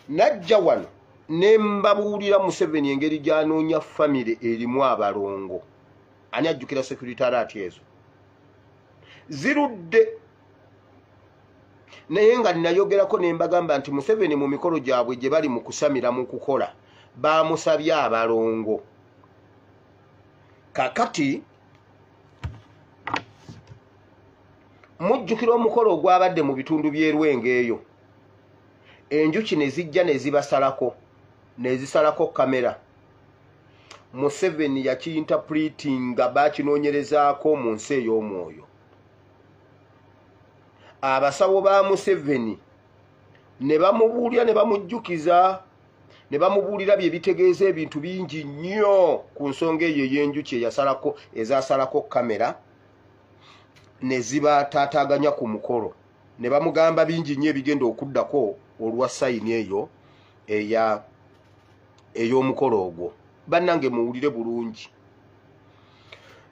najja wano ne mbabuulira museveni engeri gyanoonya famire erimu abalongo ani ajjukira securitaraati ezo zirudde naye nga nnayogerako ne mbagamba nti museveni mu mikolo gyabwe gye bali mu kusamira mu kukola baamusabye abalongo kakati mujjukira omukolo ogwabadde mu bitundu by'erwenga eyo enjuki ne zijja ne zibasalako ne zisalako kamera museveni yakiyintapulitinga bakinoonyerezaako mu nsi ey'omwoyo abasawo ba museveni ne bamubuulira ne bamujjukiza ne bamubuulira bye bitegeeza ebintu bingi nnyo ku nsonga eyo ey'enjuki eyasalako ezasalako kamera ne zibataataaganya ku mukolo ne bamugamba bingi nnyo ebigenda okuddako olwa sayini eyo eya ey'omukolo ogwo bannange muwulire bulungi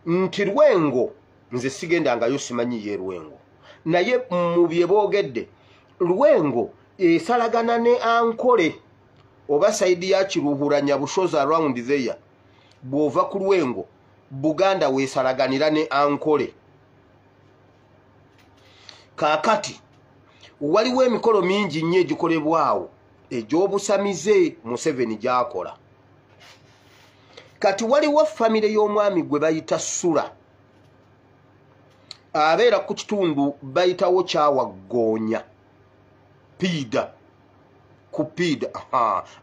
nti lwengo nze sigenda ngayo simanyi ye lwengo naye mu bye boogedde lwengo esalagana ne ankole oba sayidi ya kiruhuranya bushozi around there bw'ova ku lwengo buganda weesalaganira ne ankole kaakati waliwo emikolo mingi nnyo egikolebwawo egy'obusamize museveni gyakola kati waliwo famire y'omwami gwe bayita sula abeera ku kitundu bayitawo kyawaggoonya piida ku piida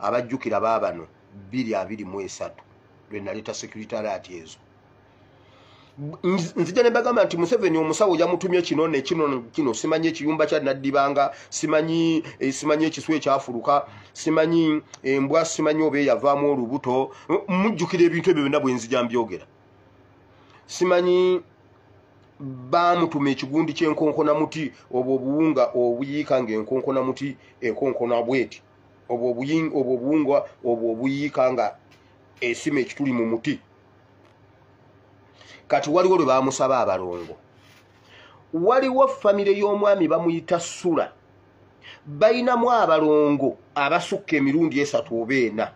abajjukira baabano bbiri abiri mu esatu lwe naleeta sekuritaalaati ezo nzija nebagamba nti museveni omusawo yamutumye kino nekino kino simanyi ekiyumba kya naddibanga simanyi eh, simanyi ekiswa ekyafuluka simanyi eh, embwa simanyi oba eyavaamu olubuto mujjukira ebintu ebyo byonna bwenzija mbyogera simanyi bamutuma ekigundi kyenkonkona muti obwo obuwunga obuyiika nga enkonkona muti ekonkona bweti obwo obuwunga obwo obuyiika nga esima ekituli mu muti kati waliwo lwe bamusaba abalongo waliwo famire y'omwami bamuyita sula balinamu abalongo abasukka emirundi esatu oba ena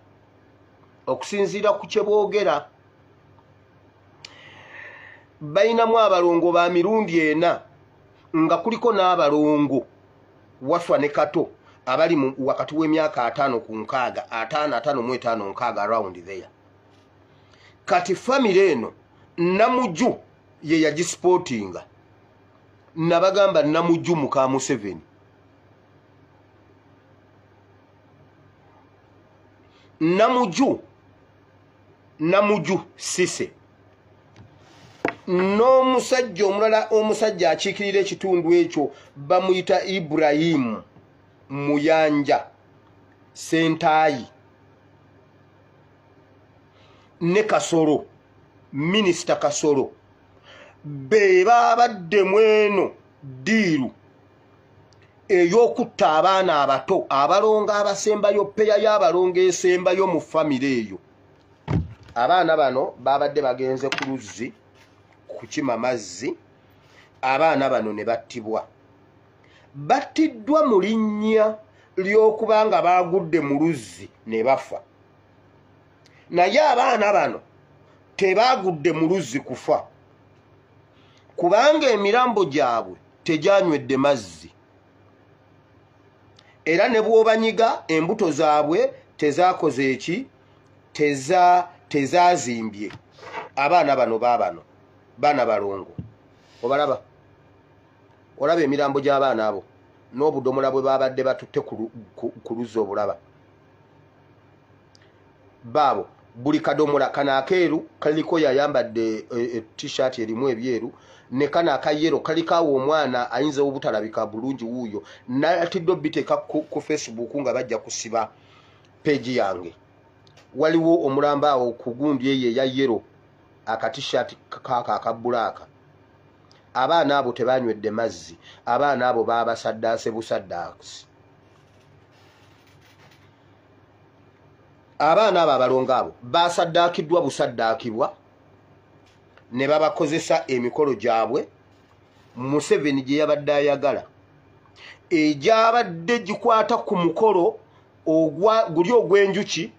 okusinziira ku kye boogera balinamu abalongo ba mirundi ena nga kuliko n'abalongo wafa ne kato abali wakati w'emyaka ataano ku nkaaga ataano ataano mu etaano nkaaga around there kati famire eno namuju ye yagisipootinga nabagamba namuju muka museveni namuju namuju sise n'omusajja omulala omusajja akiikirira ekitundu ekyo bamuyita iburahimu muyanja sentaayi ne kasolo minisita kasolo be babadde mweno diiru ey'okutta abaana abato abalongo abasembayo peya y'abalongo esembayo mu famire eyo abaana bano babadde bagenze ku luzzi kukima mazzi abaana bano ne battibwa battiddwa mu linnya ly'okuba nga baagudde mu luzzi ne bafa naye abaana bano tebaagudde mu luzzi kufa kubanga emirambo gyabwe tegyanywedde mazzi era ne bw'obanyiga embuto zaabwe tezaakoze eki tezaazimbye abaana bano baabano baana balongo obalaba olaba emirambo gy'abaana abo n'obudomola bwe baabadde batutte ku luzzi obulaba baabo buli kadomola kano akeeru kaliko yayambadde e, e, t-shirt erimu ebyeru ne kano akayero kalikaawo omwana ayinza obutalabika bulungi wuuyo natidde obiteeka ku, ku facebook nga bajja kusiba peegi yange waliwo omulamba awo ku gundi eyo eya yero akatishat kaako akabulaaka abaana abo tebanywedde mazzi abaana abo baabasaddaase busaddaasi abaana abo abalongo abo basaddaakiddwa busaddaakibwa ne babakozesa emikolo gyabwe museveni gye yabadde ayagala egyabadde gikwata ku mukolo guli ogw'enjuki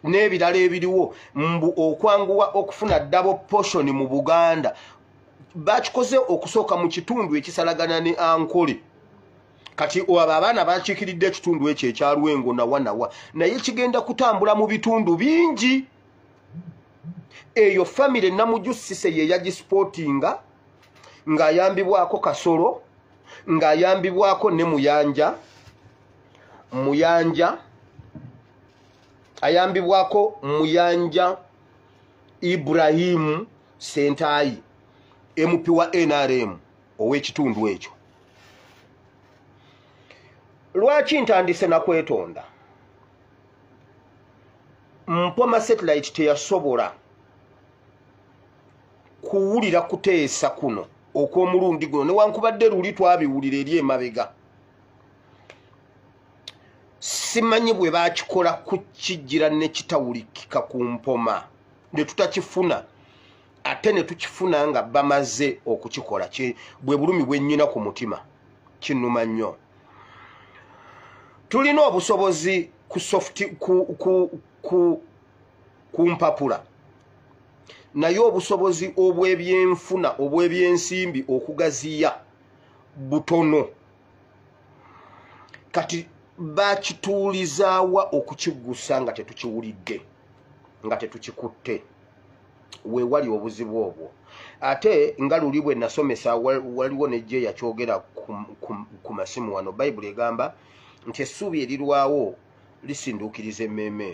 n'ebirala ebiriwo mbu okwanguwa okufuna dabo poshoni mu buganda bakikoze okusooka mu kitundu ekisalagana ne ankole kati abo abaana bakiikiridde ekitundu ekyo ekyalwengo nawa nawa naye kigenda kutambula mu bitundu bingi eyo famire namujusise yeyagisipootinga ng'ayambibwako kasolo ng'ayambibwako ne muyanja muyanja ayambibwako muyanja ibrahimu sentaayi mp wa nrm ow'ekitundu ekyo lwaki ntandise nakwetonda mpoma satellite teyasobola kuwulira kuteesa kuno okw'omulundi guno newankubadde luli twabiwulira eri emabega simanyi bwe bakikola kukijjira nekitawulikika ku mpoma ne tutakifuna ate ne tukifuna nga bamaze okukikola bwe bulumi bwennyina ku mutima kinnuma nnyo tulina obusobozi ku soft ku, ku, ku, ku mpapula naye obusobozi obw'ebyenfuna obw'ebyensimbi okugaziya butono kati bakituulizaawa okukiggusa nga tetukiwulidde nga tetukikutte wewali obuzibu obwo ate nga luli bwe nasomesa waliwo nejje yakyogera ku masimu wano bayibuli egamba nti essuubi erirwawo lisinduukiriza emmeeme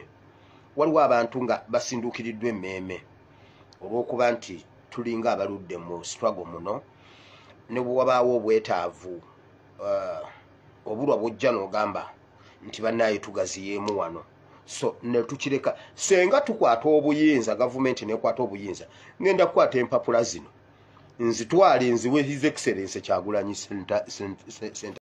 waliwo abantu nga basinduukiriddwa emmeeme olw'okuba nti tulinga abaludde mu struggle muno ne bwewabaawo obwetaavu uh, obulwa bujja n'ogamba nti bannaayo tugaziyeemu wano so netukireka senga tukwata obuyinza gavumenti nekwata obuyinza ngenda kukwata empapula zino nzitwale nziwe his excellence kyagulanyi